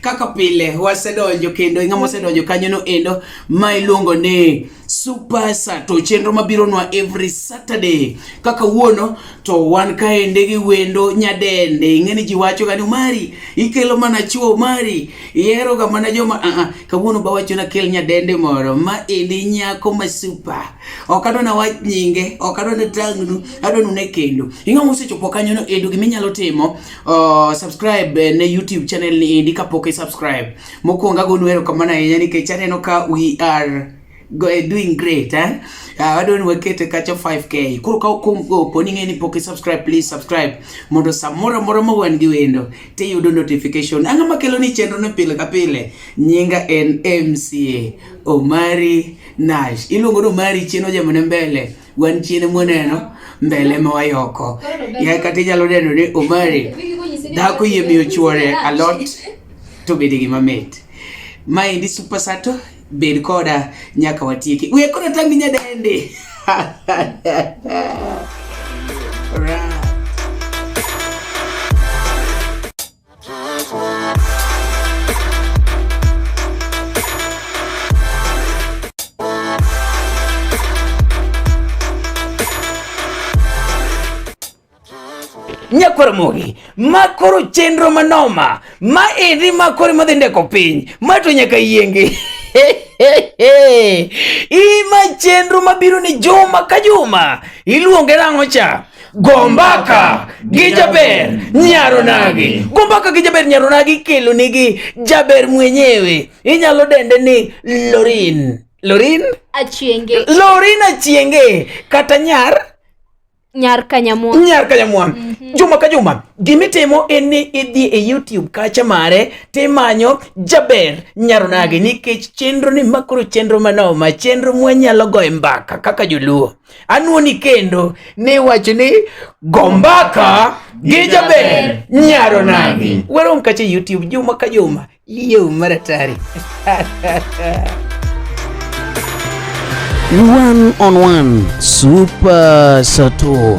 Kaka pile wasedonjo kendo ng'ama osedonjo kanyo no endo ma iluongo ni Super Sato, chenro mabiro nwa every Saturday. Kaka wuono to wan kaende gi wendo nyadende, ing'eni ji wacho gani Omari ikelo mana chuo, Omari ihero ga mana joma a uh -uh. Kawuono ba wacho na kel nyadende moro ma endi nyako ma super, ok adwa na wach nyinge, ok adwa na tang'nu, adwa nune kendo. Ing'ama osechopo kanyo no endo giminyalo timo Uh, subscribe eh, ne YouTube channel ni indi kapok i subscribe. Mokuongo agonu erokamano ahinya nikech aneno ka we are go, eh, doing great eh? Uh, ah, wadwa ni wakete kacha 5k koro ka opo ni ng'eni pok subscribe please subscribe mondo samoro moro ma wan gi wendo tiyudo notification ang'o makelo ni chenro no pile ka pile nyinga en mca omari nash iluongo ni omari chien ojamone mbele wan chien mwaneno mbele ma wayoko ya kata inyalo neno ni omari dhako yie miyo chuore alot to bede gima mit maendi super sato bed koda nyaka watieki we koda tangi nyadende nyakwar mogi makoro chenro manoma ma endi makore madhi ndeko piny mato nyaka yienge ima chenro mabiro ni juma ka juma iluonge nang'o cha Gombaka gi jaber nyaronagi. Gombaka gi jaber nyaronagi kelo nigi jaber mwenyewe. Inyalo dende ni Lorin. Lorin? Achienge. Lorin Achienge kata nyar Nyar Kanyamwa. Nyar Kanyamwa. Mm -hmm. Juma ka juma gimitimo en ni idhi e YouTube kacha mare timanyo jaber nyaronagi nikech chenro ni makoro chenro manoma chenro mwanyalo goye mbaka kaka joluo. Anwoni kendo ne wacho ni gombaka gi jaber nyaro nagi. Warom kacha e YouTube juma ka juma. Yo maratari. One on one super sato.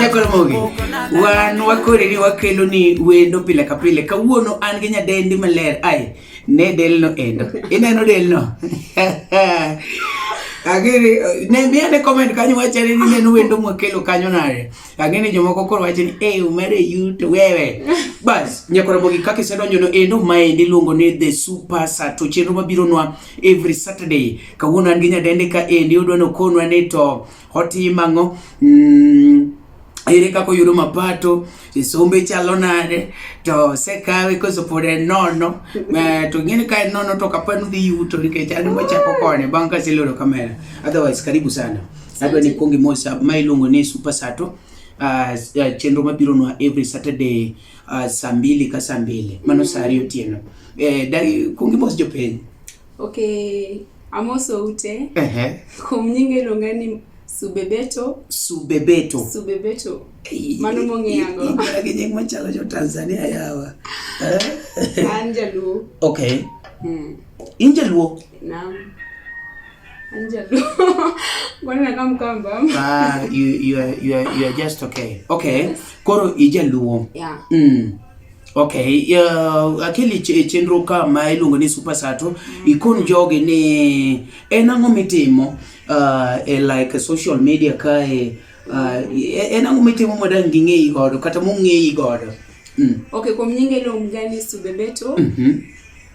Nyakoromogi, wan wakoreni wakelo ni wendo pile ka pile. Kawuono an gi nyadendi maler. Ai, ne delno endo. Ineno delno? Agere, ne mi ane comment kanyo wacha ni neno wendo mwakelo kanyo nare. Agene jomoko koro wacha ni eh umere yuto wewe. Bas, nyakoromogi kaka isedonjo no endo maendi luongo ni The Super Sat. To chenro mabiro nwa every Saturday. Kawuono an gi nyadendi ka endi odwa nokonwa ni to Otim ang'o? Mm, ere kaka oyudo mapato isombe chalo nade to sekawe koso pod en nono eh, to ng'eni ka en nono to kapa nudhi yuto nikech an machako kone bang' ka aseloro kamera otherwise karibu sana adwa ni kuongi mosa ma iluongo ni super sato uh, uh, chenro mabiro nwa every saturday uh, saa mbili ka saa mbili mano saa ariyo otieno eh, dai kuongi mos jopiny Okay, amoso ute. Ehe. Kuom nyinge iluonga ni Subebeto. Subebeto. Subebeto. Mano mong'eyango. Iluonga gi nying machalo jo Tanzania yawa. Eh? An jaluo. Okay. Hmm. In jaluo? Naam. An jaluo. Mbona kama mkamba? Ah, you you are you are you are just okay. Okay. Yes. Koro ijaluo. Yeah. Mm. Okay, uh, akili chenro ka ma iluongo ni Super Sato mm. ikon jogi ni en ang'o mitimo uh, e like social media kae uh, e, en ang'o mitimo madang' ging'eyi godo kata mong'eyi godo mm. Okay, kuom nyinge iluonga ni Subebeto mm -hmm.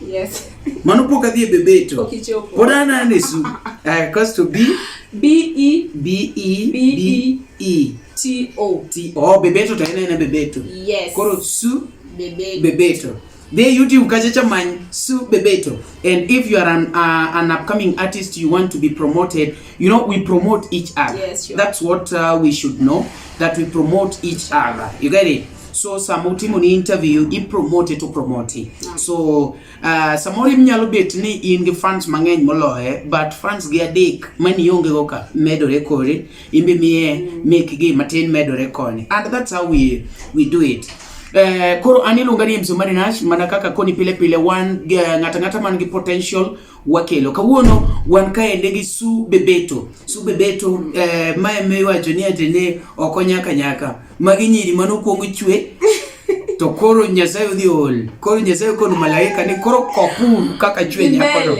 Yes. Mano pok adhi e bebeto. Pok ichopo. Pod an an e su. Eh, cause to be B E B E B E E T O. T O oh, bebeto to ina ina bebeto. Yes. Koro su bebeto. Bebeto. They YouTube Kachacha Man Su Bebeto. And if you are an, uh, an upcoming artist, you want to be promoted, You know, we promote each other. Yes, sure. That's what uh, we should know, that we promote each other. You get it? so samutimo ni interview i promote to promote mm. so uh, samoro inyalo bet ni in gi fans mang'eny moloye but fans gi adek mani ionge go ka medore kore imbe miye mm. make gi matin medore koni and that's how we we do it Eh, koro an iluonga ni Mzumari Nash mana kaka koni pile pile wan eh, ng'ata ng'ata man gi potential wakelo. Kawuono wan kaende gi Su Bebeto. Su Bebeto eh, ma ema iwacho ni ati ne ok onyaka nyaka. Magi nyiri mane okuongo chwe to koro Nyasaye odhi ol. Koro Nyasaye okono malaika ni koro kopuru kaka chwe nyakono.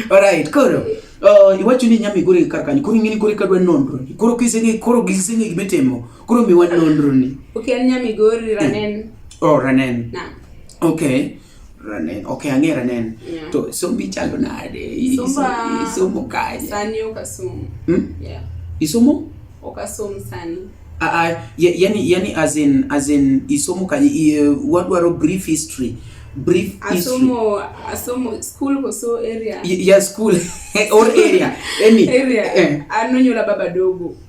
Alright, koro Uh, iwacho ni nyami gore kar kanyo koro ing'eni gore kadwa nonro ni koro kiseng'e koro giseng'e gima itimo koro miwa nonro ni ok en nyami gori ranen oh ranen na okay Ranen. Ok, ang'e Ranen. Yeah. To sombi chalo nade? I- Somba. iso- Isomo kanye? Sani ok asom. Hmm? Yeah. Isomo? Ok asom sani. Ah, ah, ya- yani, yani as in, as in isomo kanye? I- eh, Wadwaro brief history. Brief history. Asomo asomo school koso area. Y- Yeah, school or area. Any. Area. Eh. Anonyola baba dogo.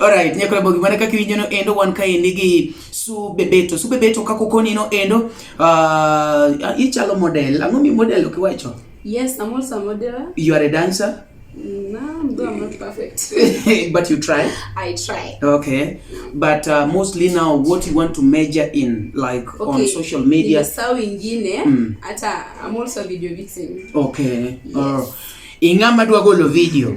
Alright, nyako bogi mana kaka iwinjo no endo wan ka endi gi su bebeto. Su bebeto kako koni no endo uh, ichalo model. Ang'o mi model okiwacho? Yes, I'm also a model. You are a dancer? No, I'm not perfect. but you try? I try. Okay. But uh, mostly now what you want to measure in like okay. on social media. Sawa ingine mm. hata I'm also a video vixen. Okay. Yes. Oh. Ing'ama dwa golo video.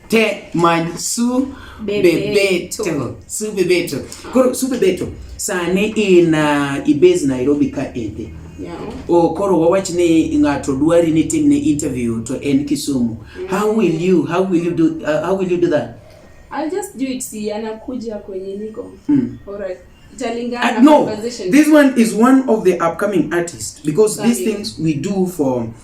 te many su bebeto su bebeto koro su bebeto sani in uh, ibase nairobi ka ende yeah. o koro wawach ni ng'ato dwari ni timne interview to en kisumu mm. how will you how will you do, uh, how will you do that I'll just do it si anakuja kwenye niko mm. alright Uh, no, this one is one of the upcoming artists because Sorry. these things we do for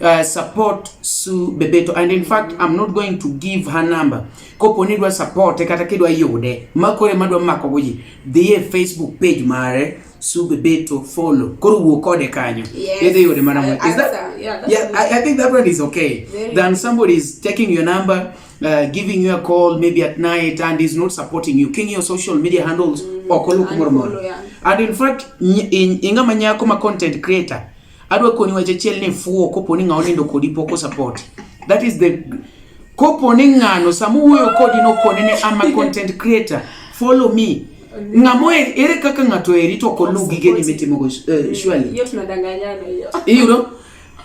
Uh, support Sue Bebeto and in fact I'm not going to give her number kopo ni dwa support kata kidwa yude makore madwa mako goji dhie e Facebook page mare Sue Bebeto follow koro wuo kode kanyo yes. idhi yude mana mwe is that yeah, yeah I, I think that one is okay Very than somebody is taking your number uh, giving you a call maybe at night and is not supporting you king your social media handles mm, okolo kumoro moro and in fact ingama nyako ma content creator Adwa koni wache chiel ni fuo kopo ni ng'ao nindo kodi poko support. That is the kopo ni ng'ano samu wuoyo kodi no koni ni ama content creator follow me ng'amo er, ere kaka ng'ato eri to ko lu gige ni mitimo go uh, surely hiyo tunadanganyana hiyo hiyo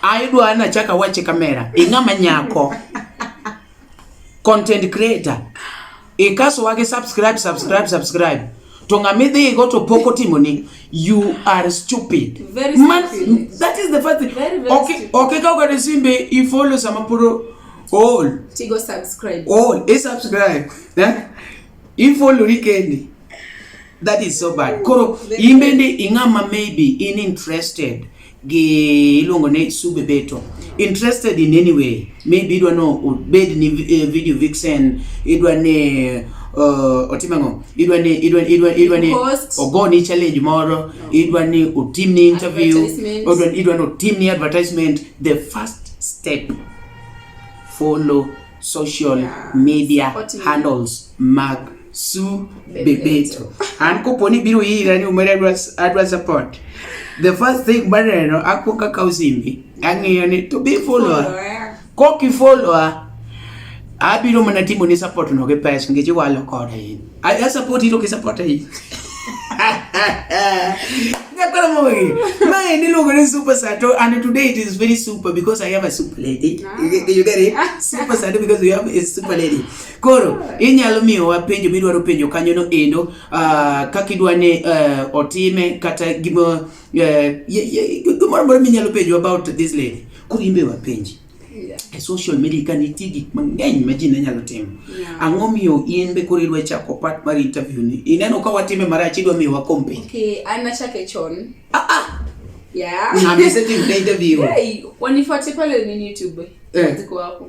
ayudwa na chaka wache kamera ing'ama nyako content creator ikaso wage subscribe subscribe subscribe to ng'ama idhigo to pok otimoni you are stupid man that is the first thing okay okay ka ogade simbe i follow sama puro all tigo subscribe all e subscribe eh i follow ni kendi that is so bad koro imbende ing'ama maybe in interested gi iluongo ni Sube Beto interested in any way maybe idwa no obed ni eh, video vixen idwa ni eh, uh, otim ang'o idwa ni idwa idwa idwa ni ogo ni challenge moro idwa ni otim ni interview idwa idwa ni otim ni advertisement the first step follow social media handles mag su bebeto an kopo ni biro ira ni umere adwa support the first thing maneno akuongo akawo simbi ang'iyo ni to be follower kok ifollowa abiro mana timo ni support no gi pesa nikech iwalo koda in a support ito ki support in Nakala mo eh. Mae ni lugo ni super sato and today it is very super because I have a super lady. Ah. You get it? Super sato because we have a super lady. Koro inyalo miyowa penjo midwaro penjo kanyono endo uh, kaka idwa ni uh, otime kata gima uh, eh, gimoro amora minyalo penjo about this lady koro imbe wapenji yeah. e social media ka nitie gik mang'eny ma ji ne nyalo timo yeah. ang'o miyo in be koro idwa chako part mar interview ni ineno ka watime marach idwa miyo wakompe okay, an nachake chon ah, ah. yeah. na mese tim na interview hey, wanifuate pale nini youtube eh. ziko hapo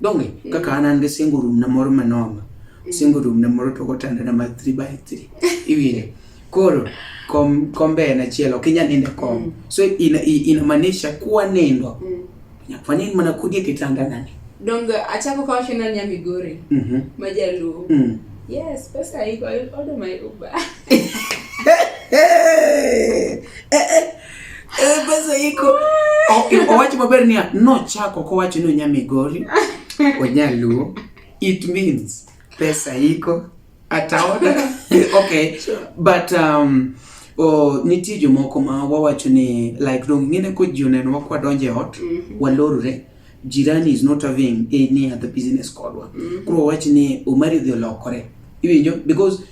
donge mm. kaka an an gi single room na moro manoma mm. single room na moro to gotanda na ma 3 by 3 iwinjo koro kom kombe en achiel ok inyal nindo kom mm. so ina ina manisha kuwa nindo mm. nyakwa nind mana kudie kitanda nani donge achako kawo shina nya migori mm -hmm. majaluo mm. yes pesa iko order my uber hey, hey, hey. Eh, basa iko. Owacho maber niya, nochako kowacho ni onya Migori, onya Luo. It means pesa iko ataoda. Okay. But um, o nitie jomoko ma wawacho ni like dong ngine ko ji oneno wakwa donje ot mm -hmm. walorore jirani is not having any other business kodwa mm -hmm. koro wawacho ni omari dhi olokore iwinjo because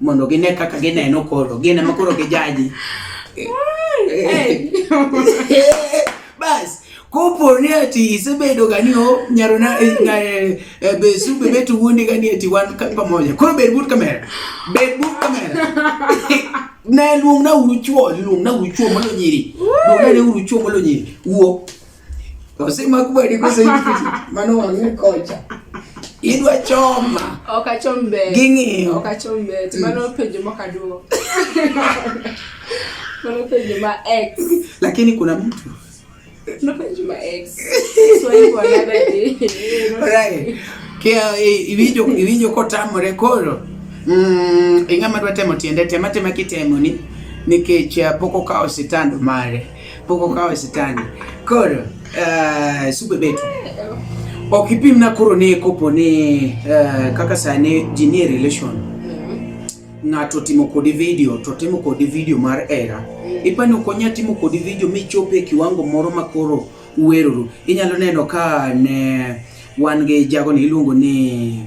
mondo gine kaka gineno koro gin ema koro gijaji bas kopo ni ati isebedo gani o nyaro na eh, na eh, eh, be su be betu wundi gani ati wan ka- pamoja koro bed but kamera bed but kamera na luong na uru chuo luong na uru chuo molo nyiri luong na uru chuo molo nyiri wuo Osema kubwa ilikuwa sasa hivi. Maana wangine kocha. Idwa choma. Okachombe. Gingi. Okachombe. Mm. Tumana upeje mwaka duo. Tumana upeje ma ex. Lakini kuna mtu. Tumana upeje ma ex. So hiyo another day. Right. Kia eh, ivijo ivijo kotamo rekoro. Mm, ingama dwa temo tiende tema tema kitemo ni nikech eh, poko kao sitando mare. Boko kawe sitani. Koro, uh, sube betu. Ok ipim na koro ne kopo ni uh, eh, kaka sani ji nie relation. Mm-hmm. Ng'ato timo kodi video, to timo kodi video mar era. Mm-hmm. Ipani okonya timo kodi video michope kiwango moro ma koro uweroru. Inyalo neno ka ne wan gi jago ni iluongo ni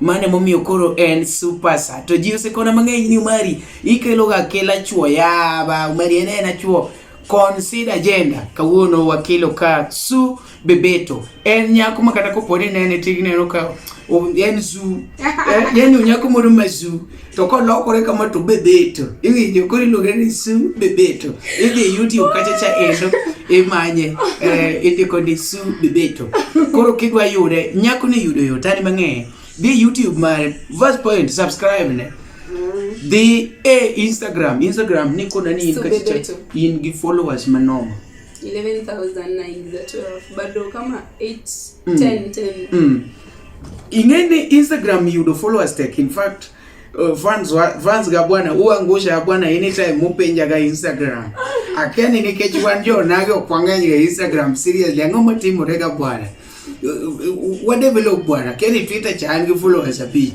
mano emomiyo koro en super sa to ji osekona mang'eny ni umari ikeloga akela chuo yaba umari en en achuo consider agenda kawuono wakelo ka su bebeto en nyako ma kata koponi nene tigneno ka en zu eh, yani onyako moro ma zu to kolokore kama to bebeto iwinjo koro iluonge ni su bebeto idhi youtube kacha cha endo imanye eh, indiko ni su bebeto koro kidwa yude nyako ni yudo yot ani mang'eyo dhi youtube mare first point subscribe ne dhi e instagram instagram ni kona ni in Su kacha cha Bebeto. in gi followers manomo 11912 bado kama 8 10 10 mm. Ingeni Instagram yudo followers tek in fact uh, fans wa, fans ga bwana uangusha ya bwana anytime mupenja ga Instagram akeni ni kechi wan jo nage okwang'eny ga Instagram seriously ang'o matimore ga bwana uh, uh, wa develop bwana keni Twitter chan gi followers abich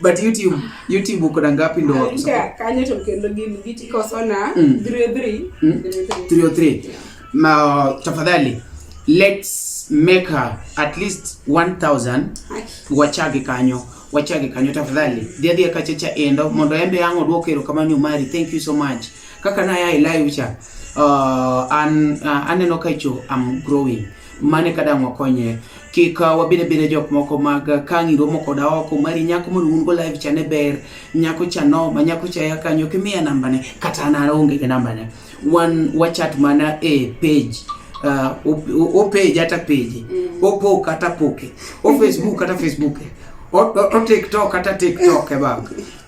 but youtube youtube uko na ngapi ndo wakusa kanye to kendo gini giti koso na 303 mm. 303 mm. ma tafadhali let's make her at least 1000 wachage kanyo wachage kanyo tafadhali dhia dhia kachecha endo mondo embe yango duoko erokamano umari thank you so much kaka na ya ilayo cha uh, an, uh, aneno kaicho am growing mane kadang wakonye kik uh, wabed abeda jok moko mag uh, ka ng'iro moko da oko mari nyako mondo un go live chane ber nyako cha no ma nyako cha ya kanyo kimiya namba ne kata na onge ga namba ne wan wachat mana e page uh, o page ata page mm. o po kata poke o facebook kata facebook o, o, o tiktok kata tiktok e baba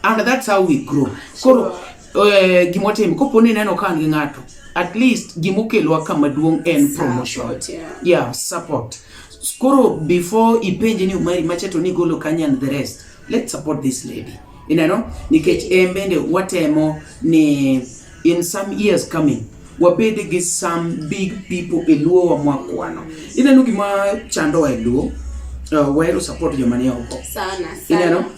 and that's how we grow koro eh, gima watimo kopo ni ineno ka an gi ng'ato at least gima okelwa kama duong' en promotion Support, yeah. yeah support koro before ipenje ni umari macha to nigolo kanye and the rest let's support this lady ineno nikech en bende watemo ni in some years coming wabed gi some big people e luo wa mwakwano ineno gima chandowa e luo uh, wahero support joma ni oko Sana, sana. ineno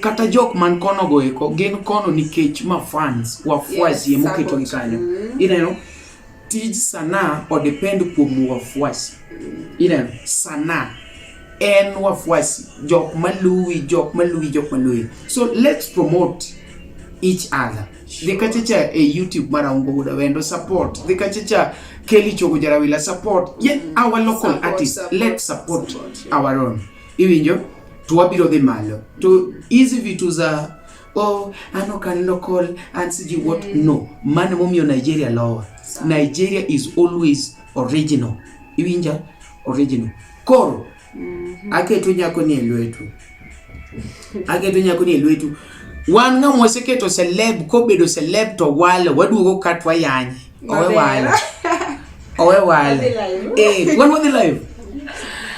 kata jok man kono go eko gin kono nikech ma fans wafuasi yes, emoketo gi kanyo mm. ineno tij sanaa odepend kuom wafuasi ineno sanaa en wafuasi jok maluwi jok maluwi jok maluwi so let's promote each other sure. dhi kachacha e youtube mara ungo guda wendo support dhi kachacha kelly chogo jarawila support yet mm. our local support, artist support, let's support, support yeah. our own iwinjo to wabiro dhi malo to hizi vitu za oh, an ok an local an siji what mm. no mano momiyo nigeria lowa nigeria is always original iwinja original koro mm -hmm. aketo nyako ni e lwetu aketo nyako ni e lwetu wan ng'ama waseketo celeb kobedo celeb to wale waduogo katwa yanye Owewal. Owewal. Eh, wan wadhi live.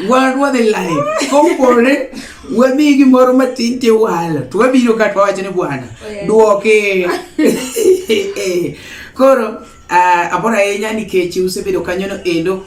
Wan wadhi live. Kopore wamiyi gimoro matin tiwalo to wabiro ka to wawacho ni bwana oh, duoke koro uh, ah, abor ahinya nikech usebedo kanyono endo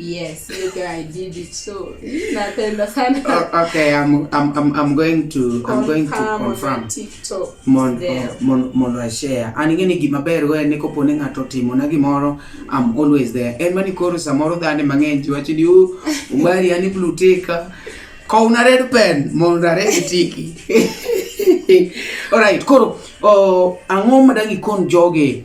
Yes, you guy did it. So napenda sana. Oh, okay, I'm I'm I'm I'm going to confirm I'm going to confirm. TikTok. Mon oh, mon mon I share. An ingeni gima ber we ne kopo ne ng'ato timo na gimoro I'm always there. En mani koro samoro dhani mang'eny ji wacho ni u umari ani blue tick. Ka una red pen mon red tiki. All right, koro oh, ang'o madang ikon joge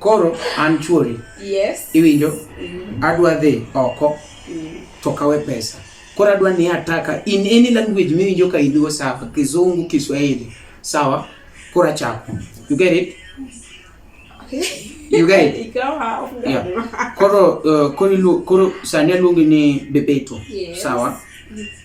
Koro an chuori. Yes. Iwinjo? Mm. Adwa dhi oko. Mm. To kawe pesa. Koro adwa ni ataka in any language miwinjo ka idhigo sawa, Kizungu, Kiswahili. Sawa? Koro achako. You get it? Okay. You get it? yeah. Koro, uh, koro, koro sani aluongi ni Bebeto. Yes. Sawa? Yes.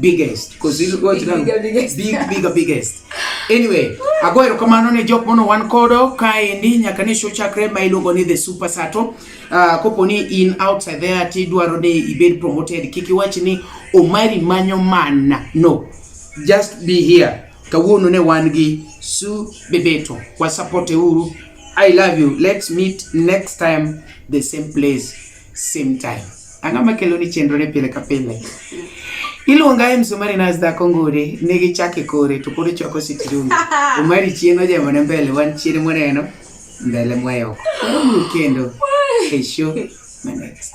biggest because you go to them big bigger biggest anyway ago erokamano ne jok mono wan kodo kaendi nyaka ne show chakre ma iluongo ni the super sato uh, ah, kopo ni in outside there ti dwaro ni ibed promoted kik iwach ni omari manyo mana no just be here kawuono ne wan gi su bebeto wa support e uru i love you let's meet next time the same place same time. Ang'o makelo ni chenro ne pile ka pile? Iluonga e msumari na dhako ngure ne gi chake kore to kore choko sitirum. Umari chien ojemo ne mbele wan chien mwaneno mbele mwayo. Kendo kesho my next.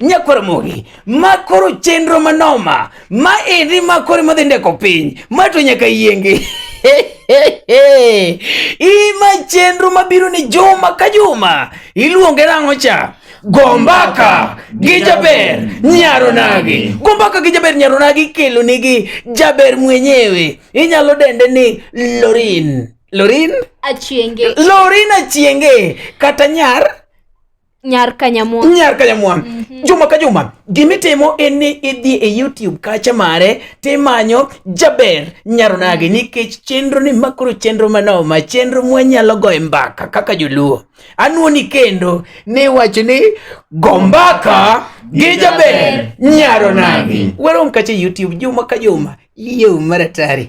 Nyakwaromogi, ma koro chenro manoma, ma endi ma koro madhi ndeko piny, ma to nyaka yienge. Ima chenro mabiro ni juma ka juma, iluonge nang'o cha? Gombaka gi jaber nyaronagi. Gombaka gi jaber nyaronagi kelo nigi jaber mwenyewe. Inyalo dende ni Lorin. Lorin? Achienge. Lorin achienge. Kata nyar? Nyar Kanyamwa. Nyar Kanyamwa. Mm -hmm. Juma ka Juma, gimitimo en ni idhi e YouTube kacha mare timanyo Jaber Nyaronagi mm -hmm. nikech chenro ni makoro chenro manoma, chenro mwanyalo goye mbaka kaka joluo. Anuoni kendo ni wacho ni go mbaka gi Jaber Nyaronagi. Wero mkache YouTube Juma ka Juma. Iyo maratari.